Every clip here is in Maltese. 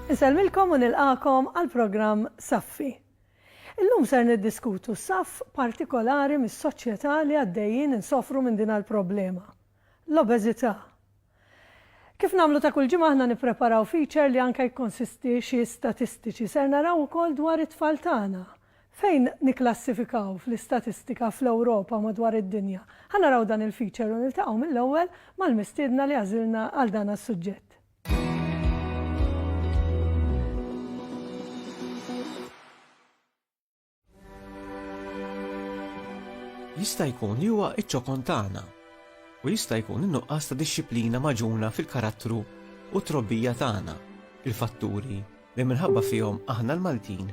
Insellmilkom u nilqagħkom għall-programm Saffi. Illum ser niddiskutu saff partikolari mis-soċjetà li għaddejjin insofru minn din l-problema, l-obeżità. Kif nagħmlu ta' kull ġimgħa aħna nippreparaw feature li anke jikkonsisti xi statistiċi. Ser naraw ukoll dwar it-tfal tagħna. Fejn nikklassifikaw fl-istatistika fl-Ewropa u madwar id-dinja? Ħa naraw dan il-feature u niltaqgħu mill-ewwel mal-mistiedna li għażilna għal dan as-suġġett. jista' jkun li huwa iċ-ċokon tagħna u jista' jkun in-nuqqas ta' dixxiplina maġuna fil-karattru u trobbija tagħna, il-fatturi li minħabba fihom aħna l-Maltin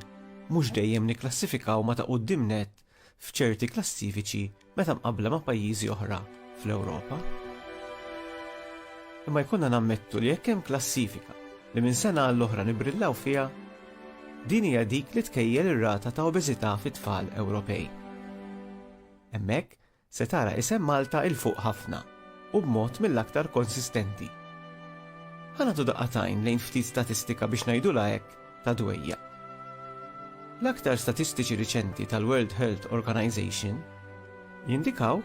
mhux dejjem nikklassifikaw ma ta' quddiem nett f'ċerti klassifiċi meta mqabbla ma' pajjiżi oħra fl-Ewropa. Imma jkollna nammettu li jekk hemm klassifika li minn sena għall-oħra nibrillaw fiha, din hija dik li tkejjel ir-rata ta' obeżità fit-tfal Ewropej. Hemmhekk Se tara isem Malta 'il fuq ħafna u b'mod mill-aktar konsistenti. Ħa nagħtu daqqa t'għajn lejn ftit statistika biex ngħidulha hekk ta' dwejjaq. L-aktar statistiċi riċenti tal-World Health Organization jindikaw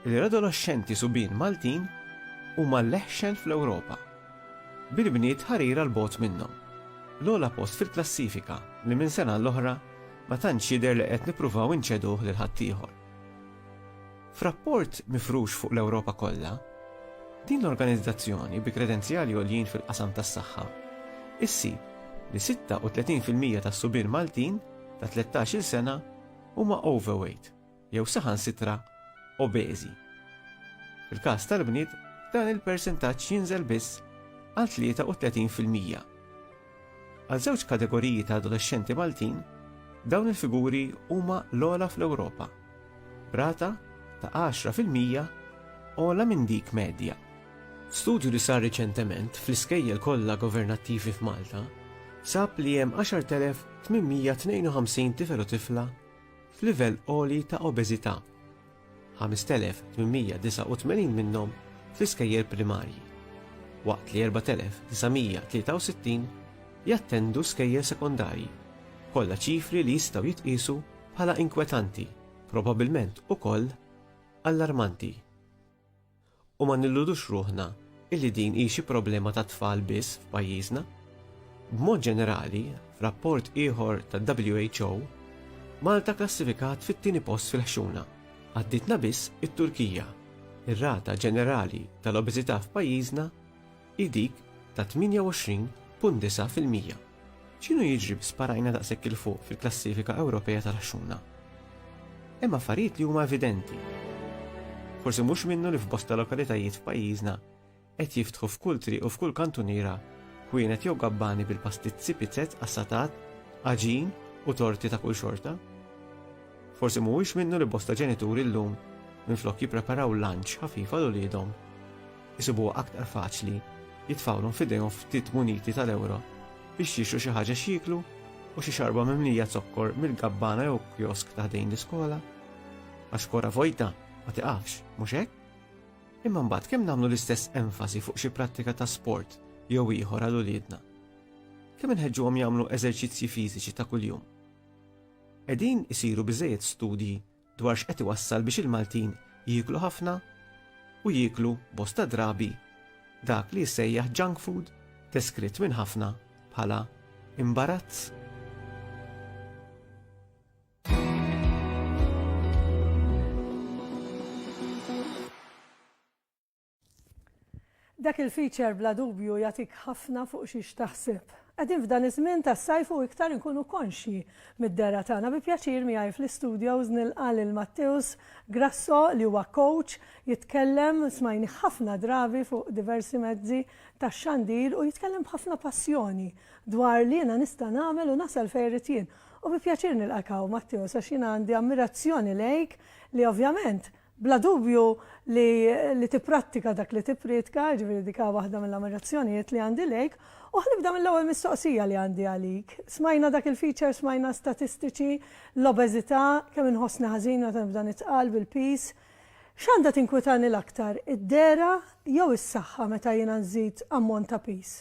li l-adoloxxenti subien Maltin huma l-eħxen fl-Ewropa, bil-bniet ħarira 'l bogħod minnhom. L-ogħla post fil-klassifika li minn sena għall-oħra ma tantx jidher li qed nippruvaw inċeduh lil ħaddieħor. F'rapport mifrux fuq l-Ewropa kollha, din l-organizzazzjoni bi kredenzjali għoljin fil-qasam tas-saħħa issib li 36 fil-mija tas-subien Maltin ta' 13-il sena huma overweight jew saħansitra obeżi. Fil-każ tal-bniet dan il-persentaġġ jinżel biss għal 33 fil-mija. Għal żewġ kategoriji ta' adolexxenti Maltin, dawn il-figuri huma l-ogħla fl-Ewropa, b'rata ta' għaxra fil-mija ogħla minn dik medja. Studju li sar riċentement fl-iskejjel kollha governattivi f'Malta sab li hemm 10,852 tifel u tifla f'livell għoli ta' obeżità, 5,889 minnhom fl-iskejjel primarji, waqt li 4,963 jattendu skejjel sekondarji, kollha ċifri li jistgħu jitqiesu bħala inkwetanti, probabbilment ukoll allarmanti. U ma nilludux ruħna illi din hi xi problema tat-tfal biss f'pajjiżna. B'mod ġenerali, f'rapport ieħor tad-WHO, Malta kklassifikat fit-tieni post fil-ħxuna, għaddietna biss it-Turkija. Ir-rata ġenerali tal-obeżità f'pajjiżna hi dik ta' 28.9 fil-mija. X'inhu jiġri bi sparajna daqshekk 'il fuq fil-klassifika Ewropea tal-għaxxuna? Hemm affarijiet li huma evidenti. Forsi mhux minnu li f'bosta lokalitajiet f'pajjiżna qed jiftħu f'kull triq u f'kull kantuniera ħwienet jew gabbani bil-pastizzi, pizzett, qassatat, għaġin u torti ta' kull xorta. Forsi mhuwiex minnu li bosta ġenituri llum minflok jippreparaw lunch ħafif għal uliedhom, isibuha aktar faċli jitfgħulhom f'idejhom ftit muniti tal-ewro biex jixtru xi ħaġa x'jieklu u xi xarba mimlija zokkor mill-gabbana jew kjosk ta' ħdejn l-iskola. Għax kora vojta ma tiqafx, mhux hekk? Imma mbagħad kemm nagħmlu l-istess enfasi fuq xi prattika ta' sport jew ieħor għal uliedna? Kemm inħeġġuhom jagħmlu eżerċizzji fiżiċi ta' kuljum? Qegħdin isiru biżejjed studji dwar x'qed iwassal biex il-Maltin jieklu ħafna u jieklu bosta drabi dak li jissejjaħ junk food deskritt minn ħafna bħala imbarazz. Dak il-feature bla dubju jagħtik ħafna fuq xiex taħseb. Qegħdin f'dan iż-żmien tas-sajf u iktar inkunu konxji mid-dehra tagħna. Bi pjaċir miegħi fl-istudios nilqa' lil Matteus Grasso li huwa coach, jitkellem, smajnih ħafna drabi fuq diversi mezzi tax-xandir u jitkellem b'ħafna passjoni dwar li jiena nista' nagħmel u nasal fejn irrid jien. U bi pjaċir nilqak hawn Matteus għax jiena għandi ammirazzjoni lejk li ovvjament Bla dubju li li tipprattika dak li tipprietka, jiġifieri dik hi waħda mill-ammirazzjonijiet li għandi lejk. U ħa nibda mill-ewwel mistoqsija li għandi għalik. Smajna dak il-feature, smajna statistiċi, l-obeżità, kemm inħossni ħażin meta nibda nitqal bil-piż. X'għandha tinkwitani l-aktar, id-dehra jew is-saħħa meta jiena nżid ammont ta' piż?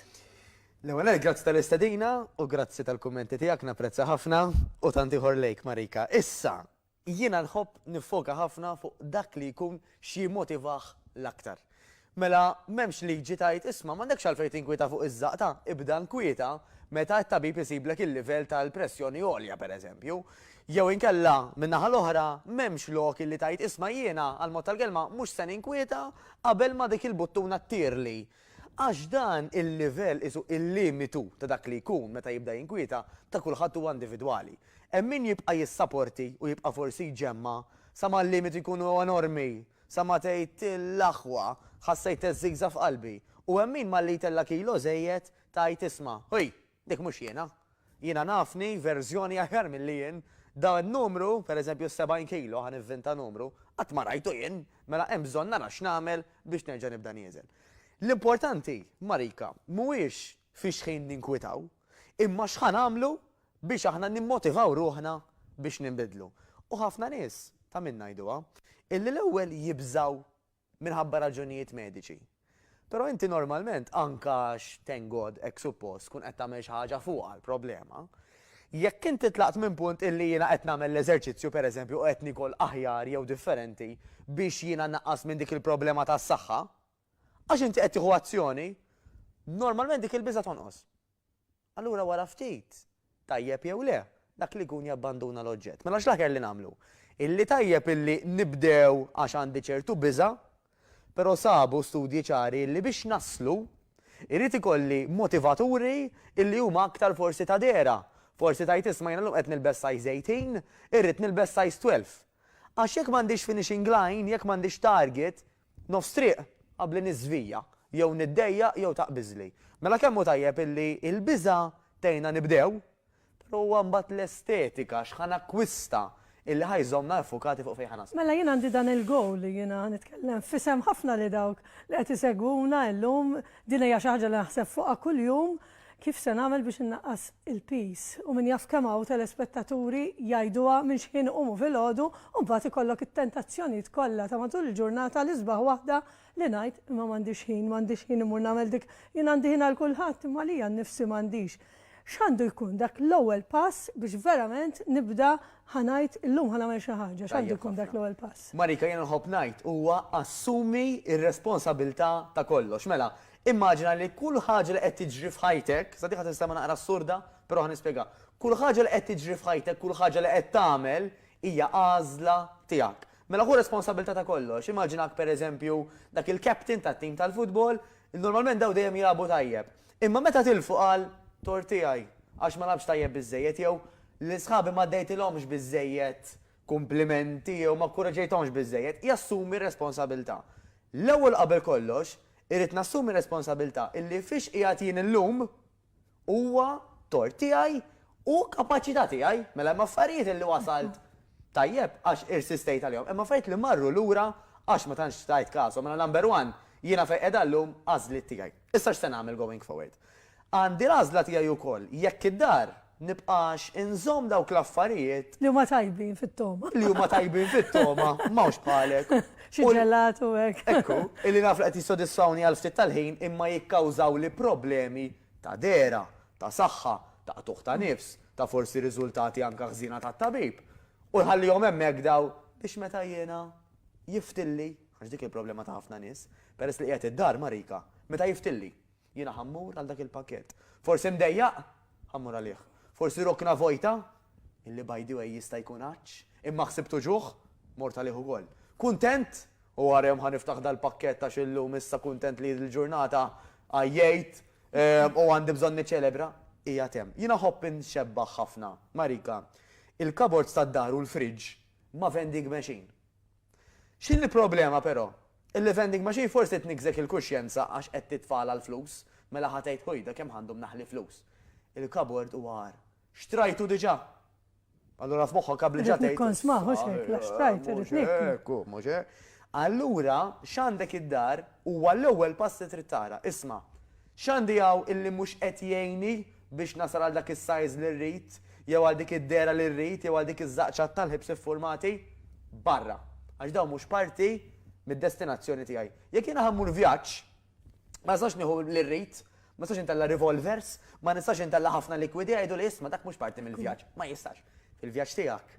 L-ewwel nett grazzi tal-istedina u grazzi tal-kummenti tiegħek, napprezza ħafna, u tant ieħor lejk Marika. Issa, Jiena nħobb niffoka ħafna fuq dak li jkun x'jimmotivah l-aktar. Mela m'hemmx liġi tgħid isma' m'għandekx għalfejn tinkwieta fuq iż-żaqta, ibda nkwieta meta t-tabib isiblek il-livell tal-pressjoni għolja pereżempju. Jew inkella, min-naħa l-oħra, m'hemmx lok illi tgħid isma' jiena, għall-mod tal-kelma, mhux se ninkwieta qabel ma dik il-buttuna ttirli. Għax dan il-livell qisu il-limitu ta' dak li jkun meta jibda jinkwieta ta' kulħadd huwa individwali. Hemm min jibqa' jissaporti u jibqa' forsi jġemma' sa ma l-limitu jkunu enormi, sa ma tgħid l-aħwa, ħassejt teżżigża f'qalbi, u hemm min malli jtella' kilo żejjed tgħid isma', ħuj! Dik mhux jiena. Jiena nafni verżjoni aħjar milli jien. Dan in-numru, per eżempju s-70 kilo, ħa nivvinta numru, qatt ma rajtu jien, mela hemm bżonn nara x'nagħmel biex nerġa' nibda nieżen. L-importanti, Marika, mhuwiex fi xħin ninkwitaw, imma x'ħa nagħmlu biex aħna nimmotivaw ruħna biex ninbidlu. U ħafna nies, ta' min ngħiduha, illi l-ewwel jibżgħu minħabba raġunijiet mediċi. Però inti normalment, anke għax, thank God, hekk suppost, tkun qed tagħmel xi ħaġa fuqha l-problema. Jekk inti tlaqt minn punt illi jiena qed nagħmel l-eżerċizzju, pereżempju, u qed niekol aħjar jew differenti biex jiena nnaqqas minn dik il-problema tas-saħħa, għax inti qed tieħu azzjoni, normalment dik il-biża' tonqos. Allura wara ftit, tajjeb jew le, dak li jkun jabbanduna l-oġġett. Mela x'l-aħjar li nagħmlu? Illi tajjeb illi nibdew għax għandi ċertu biża', però sabu studji ċari illi biex naslu, irrid ikolli motivaturi illi huma aktar forsi ta' dehra. Forsi tgħid isma' jiena llum qed nilbes size 18, irrid nilbes size 12. Għax jekk m'għandix finishing line, jekk m'għandix target, nofs triq, qabbli niżvija, jew niddejjaq jew taqbiżli. Mela kemm hu tajjeb illi l-biża' tgħinna nibdew, però huwa mbagħad l-estetika, x'ħa nakkwista, illi ħa jżommna iffukati fuq fejn ħa naslu. Mela jien għandi dan il-goal li jiena ħa nitkellem f'isem ħafna li dawk li qed isegwuna illum, din hija xi ħaġa li naħseb fuqha kuljum, Kif se nagħmel biex innaqqas il-piż? U min jaf kemm hawn telespettaturi jgħiduha minn xħin iqumu filgħodu u mbagħad ikollok it-tentazzjonijiet kollha ta' matul il-ġurnata l-isbaħ waħda li ngħid imma m'għandix ħin, m'għandix ħin immur nagħmel dik, jien għandi ħin għal kulħadd imma għalija nnifsi m'għandix. X'għandu jkun dak l-ewwel pass biex verament nibda ħa ngħid illum ħa nagħmel xi ħaġa, x'għandu jkun dak l-ewwel pass? Marika, jiena nħobb ngħid huwa assumi r-responsabilità ta' kollox. Mela, Immaġina li kull ħaġa li qed tiġri f'ħajtek, sa din ħa tinstema' naqra assurda, però ħa nispjegha, kull ħaġa li qed tiġri f'ħajtek, kull ħaġa li qed tagħmel hija għażla tiegħek. Mela ħu responsabbiltà ta' kollox. Immaġinak pereżempju dak il-captain tat-tim tal-futbol, normalment dawn dejjem jilagħbu tajjeb. Imma meta tilfu qal, tort tiegħi, għax ma lagħbtx tajjeb biżżejjed jew, lil sħabi ma dejtilhomx biżżejjed kumplimenti jew ma kkuraġġejthomx biżżejjed, jassumi r-responsabilità. L-ewwel u qabel kollox, irrid nassumi r-responsabilità illi fiex qiegħed jien illum huwa tort tiegħi u kapaċità tiegħi. Mela hemm affarijiet illi wasalt tajjeb għax irsistejt għalihom, hemm affarijiet li marru lura għax ma tantx tajt kasom. Mela number one, jiena fejn qiegħda llum għażliet tiegħi. Issa x'se nagħmel going forward? Għandi l-għażla tiegħi wkoll jekk id-dar nibqax inżomm dawk l-affarijiet. Li huma tajbin fit-togħma. Li huma tajbin fit-togħma, m'hawnx bħalek. Xi ġelat u hekk. Ekku, illi naf li qed jissodisfawni għal ftit tal-ħin imma jikkawżawli problemi ta' dehra, ta' saħħa, ta' qtugħ ta' nifs, ta' forsi riżultati anke ħżiena tat-tabib. U nħallihom hemmhekk dawn biex meta jiena. jiftilli, għax dik il-problema ta' ħafna nies, peress li qiegħed id-dar ma' Rika, meta jiftilli, jiena ħa mmur għal dak il-pakkett. Forsi mdejjaq? Ħa mmur għalih. Forsi rokna vojta? Illi by the way jista' jkun għatx, imma ħsibt uġugħ? Mort għalih ukoll. Kuntent? U wara jum ħa niftaħ dal-pakkett għax illum issa kuntent li l-ġurnata għajjejt u għandi bżonn niċċelebra? Qiegħed hemm. Jiena nħobb inxebbaħ ħafna ma' Rika. Il-cupboards tad-dar u l-fridge ma' vending machine. X'inhi l-problema però? Illi vending machine forsi tniggżek il-kuxjenza għax qed titfagħalha l-flus, mela ħa tgħid ħujda kemm ħandhom naħli flus. Il-kabord huwa agħar. Xtrajtu diġà! Allura f'moħħok qabel ġa tgħid. Irrid nikkonsmah mhux hekk, la xtrajt irrid niekkol. Mhux hekk hu, mhux hekk. Allura x'għandek id-dar huwa l-ewwel pass li trid tara. Isma'. X'għandi hawn illi mhux qed jgħinni biex nasal għal dak is-sajż li rrid, jew għal dik id-dehra li rrid, jew għal dik iż-żaqċa tal-ħibs iffurmati? Barra! Għax dawn mhux parti mid-destinazzjoni tiegħi. Jekk jiena ħa mmur vjaġġ, ma nistax nieħu li rrid, ma nistax intella' revolvers, ma nistax intella' ħafna likwidi, jgħiduli isma' dak mhux parti mill-vjaġġ. Ma jistax. Fil-vjaġġ tiegħek,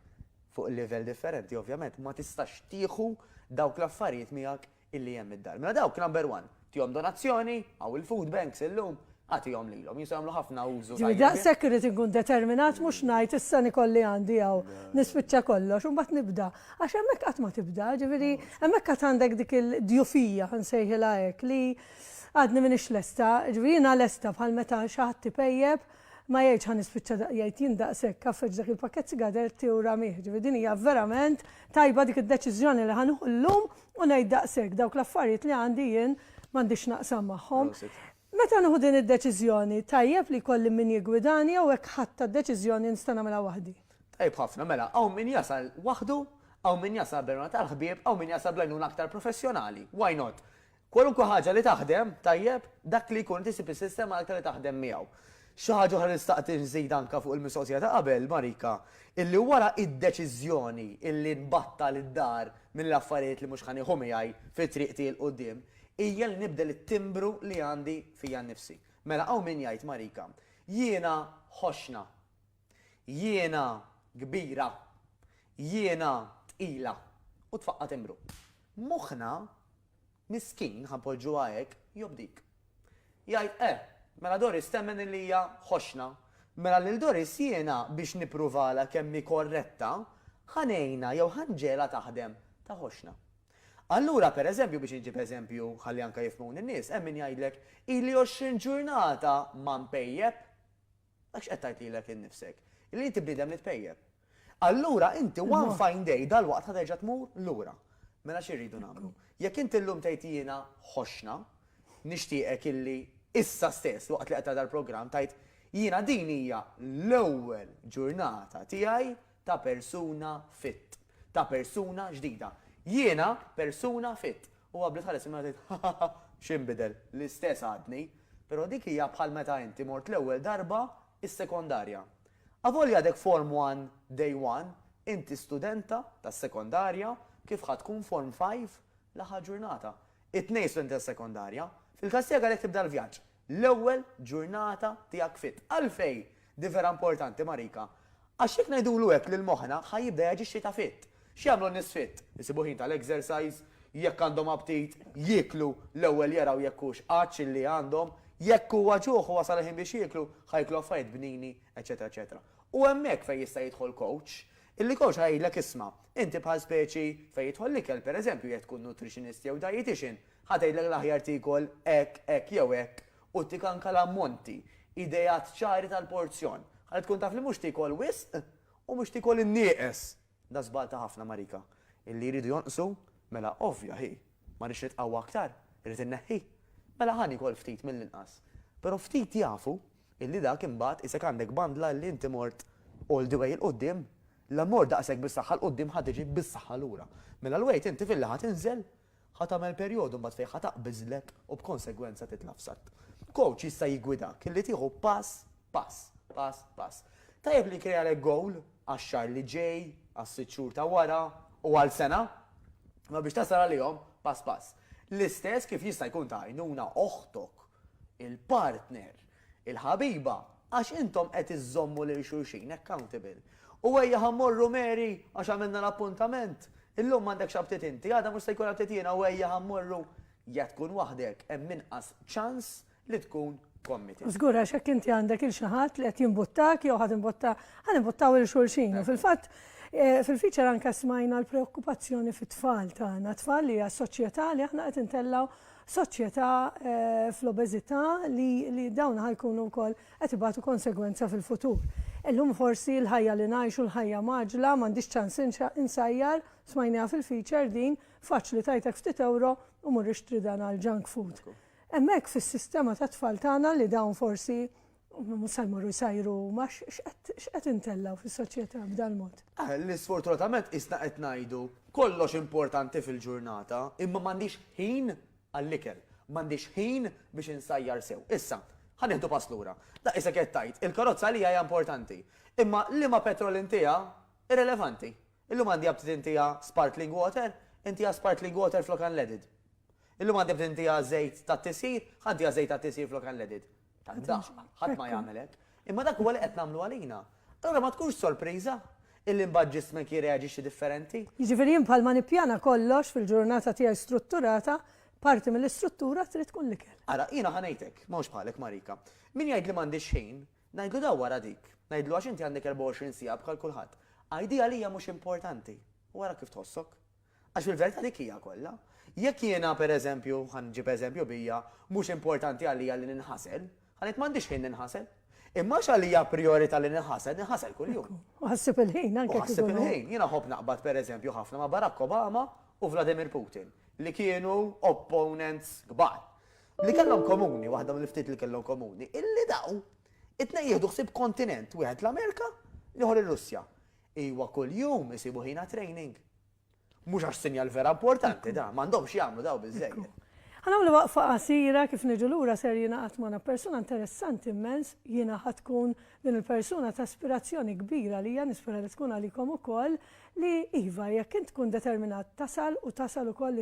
fuq livell differenti ovvjament, ma tistax tieħu dawk l-affarijiet miegħek illi hemm id-dar. Mela dawk number one, tihom donazzjoni, hawn il-food banks illum, agħtihom lilhom, jistgħu jagħmlu ħafna użu tajjeb. Jiġifieri daqshekk irrid inkun determinat mhux ngħid issa nikolli għandi hawn, nispiċċa kollox u mbagħad nibda. Għax hemmhekk qatt ma tibda, jiġifieri hemmhekk għad għandek dik il-djufija, ħa nsejħilha hekk, li għadni m'iniex lesta, jiġifieri jiena lesta bħal meta xi ħadd ipejjep, ma jgħidx ħa nispiċċa da, jgħid jien daqshekk, għaffeġ dak il-pakkett sigaretti u ramih, jiġifieri din hija verament tajba dik id-deċiżjoni li ħa nieħu llum u ngħid daqshekk, dawk l-affarijiet li għandi jien m'għandix naqsam magħhom. Meta nieħu din id-deċiżjoni, tajjeb li jkolli min jiggwidani jew hekk ħadtha d-deċiżjoni li nista' nagħmilha waħdi? Tajjeb ħafna, mela hawn min jasal waħdu, hawn min jasal bl-għenuna tal-ħbieb, hawn min jasal bl-għenuna aktar professjonali. Why not? Kwalunkwe ħaġa li taħdem tajjeb, dak li jkun inti ssib is-sistema l-aktar li taħdem miegħu. Xi ħaġa oħra li xtaqt inżid anke fuq il-mistoqsija ta' qabel, Marika, illi wara d-deċiżjoni illi nbattal id-dar minn l-affarijiet li mhux ħa nieħu miegħi fi triqti 'l quddiem, hija li nibdel it-timbru li għandi fija nnifsi. Mela hawn min jgħid, Marika, jiena ħoxxna. Jiena kbira, jiena tqila, u tfaqqa' timbru. Moħħna, miskin, ħa npoġġuha hekk, jobdik. Jgħid, Eh, mela Doris temmen illi hija ħoxna. Mela lil Doris jiena biex nippruvalha kemm hi korretta, ħa ngħinha jew ħa nġegħelha taħdem ta' ħoxna. Allura, per eżempju, biex inġib eżempju ħalli anke jifhmuni n-nies, hemm min jgħidlek, Ili għoxrin ġurnata ma npejjep. Dak x'qed tgħid lilek innifsek, li inti bniedem li tpejjep. Allura inti one fine day dalwaqt ħa terġa' tmur lura. Mela xi rridu nagħmlu? Jekk inti llum tgħid jiena ħoxna, nixtieqek illi issa stess waqt li qed tara dal-programm tgħid, jiena din hija l-ewwel ġurnata tiegħi Ta' persuna fit. Ta' persuna ġdida. Jiena persuna fit. U qabli tħares il-mira tgħid, Hahaha, x'inbidel? L-istess għadni. Però dik hija bħal meta inti mort l-ewwel darba s-sekondarja. Avolja għadek Form One, Day One, inti studenta tas-sekondarja kif ħa tkun Form Five l-aħħar ġurnata. It-tnejn studenti tas-sekondarja. Fil-każ tiegħek għalhekk tibda l-vjaġġ. l-ewwel ġurnata tiegħek fit. Għalfejn din vera importanti Marika? Għax jekk ngħidulu hekk lil moħħna ħa jibda jaġixxi ta' fit. X'jagħmlu n-nies fit? Isibu ħin tal-exercise, jekk għandhom aptit, jieklu, l-ewwel jaraw jekk hux għatx illi għandhom, jekk huwa ġuħ u wasal il-ħin biex jieklu, ħa jieklu affarijiet bnini, eċċetera eċċetera. U hemmhekk fejn jista' jidħol coach, illi coach ħa jgħidlek isma', inti bħal speċi fejn jidħol l-ikel, pereżempju jekk tkun nutritionist jew dietician, Ħa tgħidlek l-aħjar tiekol hekk, hekk jew hekk u ttik anke l-ammonti, ideat ċari tal-porzjon, ħalli tkun taf li mhux tiekol wisq u mhux tiekol in-nieqes. Da żball ta' ħafna marika. Illi jridu jonqsu? Mela ovvja hi. Ma rridx nitqawwa aktar? Irrid inneħħi? Mela ħa niekol ftit mill-inqas. Però ftit jafu illi dak imbagħad qisek għandek bandla illi inti mort all the way 'il quddiem. La mort daqshekk bis-saħħa 'l quddiem ħa tiġi bis-saħħa lura. Mela l-wejt inti filli ħa tinżel Ħa tagħmel perjodu mbagħad fejn ħa taqbiżlek u b'konsegwenza titla' f'satt. Kowċ jista' jiggwidak li tieħu pass pass, pass pass. Tajjeb li jkrealek gowl għax-xahar li ġej, għas-sitt xhur ta' wara u għal sena. Imma biex tasal għalihom, pass pass. L-istess kif jista' jkun ta' għajnuna oħtok, il-partner, il-ħabiba, għax intom qed iżżommu lil xulxin accountable. U ejja ħa mmorru Mary, għax għamilna l-appuntament. Illum m'għandekx abtiet inti, għada mhux se jkun abtiet jiena u ejja ħa mmorru. Jekk tkun waħdek, hemm inqas ċans li tkun committed. Żgur għax jekk inti għandek 'il xi ħadd li qed jimbuttak jew ħa timbutta, ħa nimbuttaw 'il xulxin. U fil-fatt, fil-feature anke smajna l-preokkupazzjoni fit-tfal tagħna, tfal li għas-soċjetà li aħna qed intellgħu soċjetà fl-obeżità li dawn ħa jkunu wkoll qed ibatu konsegwenza fil-futur. Illum forsi l-ħajja li ngħixu, l-ħajja mgħaġġla, m'għandix ċans insajjar, smajniha fil-feature din, faċli tgħidlek ftit ewro u mur ixtri dan għall-junk food. Hemmhekk fis-sistema tat-tfal tagħna li dawn forsi Mhux se jmorru jsajru huma, x'qed intellgħu fis-soċjetà b'dal-mod? Li sfortunatament qisna qed ngħidu kollox importanti fil-ġurnata, imma m'għandix ħin għall-ikel, m'għandix ħin biex insajjar sew. Issa, ħa nieħdu pass lura. Daqq isek qed tgħid, il-karozza għalija hija importanti. Imma liema petrol intiha, irrilevanti. Illum għandi aptit intiha sparkling water, intiha sparkling water flok unleaded. Illum għandi aptit intiha żejt tat-tisjir, ħa ntiha żejt tat-tisjir flok unleaded. Tad-daqq, ħadd ma jagħmel hekk. Imma dak huwa li qed nagħmlu għalina. Allura ma tkunx sorpriża illi mbagħad ġismek jirreaġixxi differenti. Jiġifieri jien bħalma nippjana kollox fil-ġurnata tiegħi strutturata, parti mill-istruttura trid tkun l-ikel. Ara, jiena ħa ngħidlek, m'hawnx bħalek Marika. Min jgħid li m'għandix ħin, ngħidlu dawwar għal dik. Ngħidlu għax inti għandek 24 siegħa bħal kulħadd. Għidi għalija mhux importanti u ara kif tħossok. Għax fil-verità dik hija kollha. Jekk jiena, per eżempju, ħa nġib eżempju bija, mhux importanti għalija li ninħasel, ħa ngħid m'għandix ħin ninħasel. Imma għax għalija prijorità li ninħasel, ninħasel kuljum. Ekku. U ħassib il-ħin anke kieku. U ħassib il-ħin. Jiena nħobb naqbad per eżempju ħafna ma' Barack Obama u Vladimir Putin, li kienu opponents kbar. Li kellhom komuni, waħda mill-ftit li kellhom komuni, illi daw it-tnejn jieħdu ħsieb kontinent, wieħed l-Amerika, l-ieħor ir-Russja. Iwa kuljum isibu ħin għat-training. Mhux għax sinjal vera importanti dan, m'għandhomx jagħmlu dawn biżżejjed. Ħa nagħmlu waqfa qasira, kif niġu lura ser jingħaqad magħna persuna interessanti immens, jiena ħa tkun din il-persuna ta' ispirazzjoni kbira għalija, nispera li tkun għalikom ukoll, li iva jekk int tkun determinat tasal u tasal ukoll,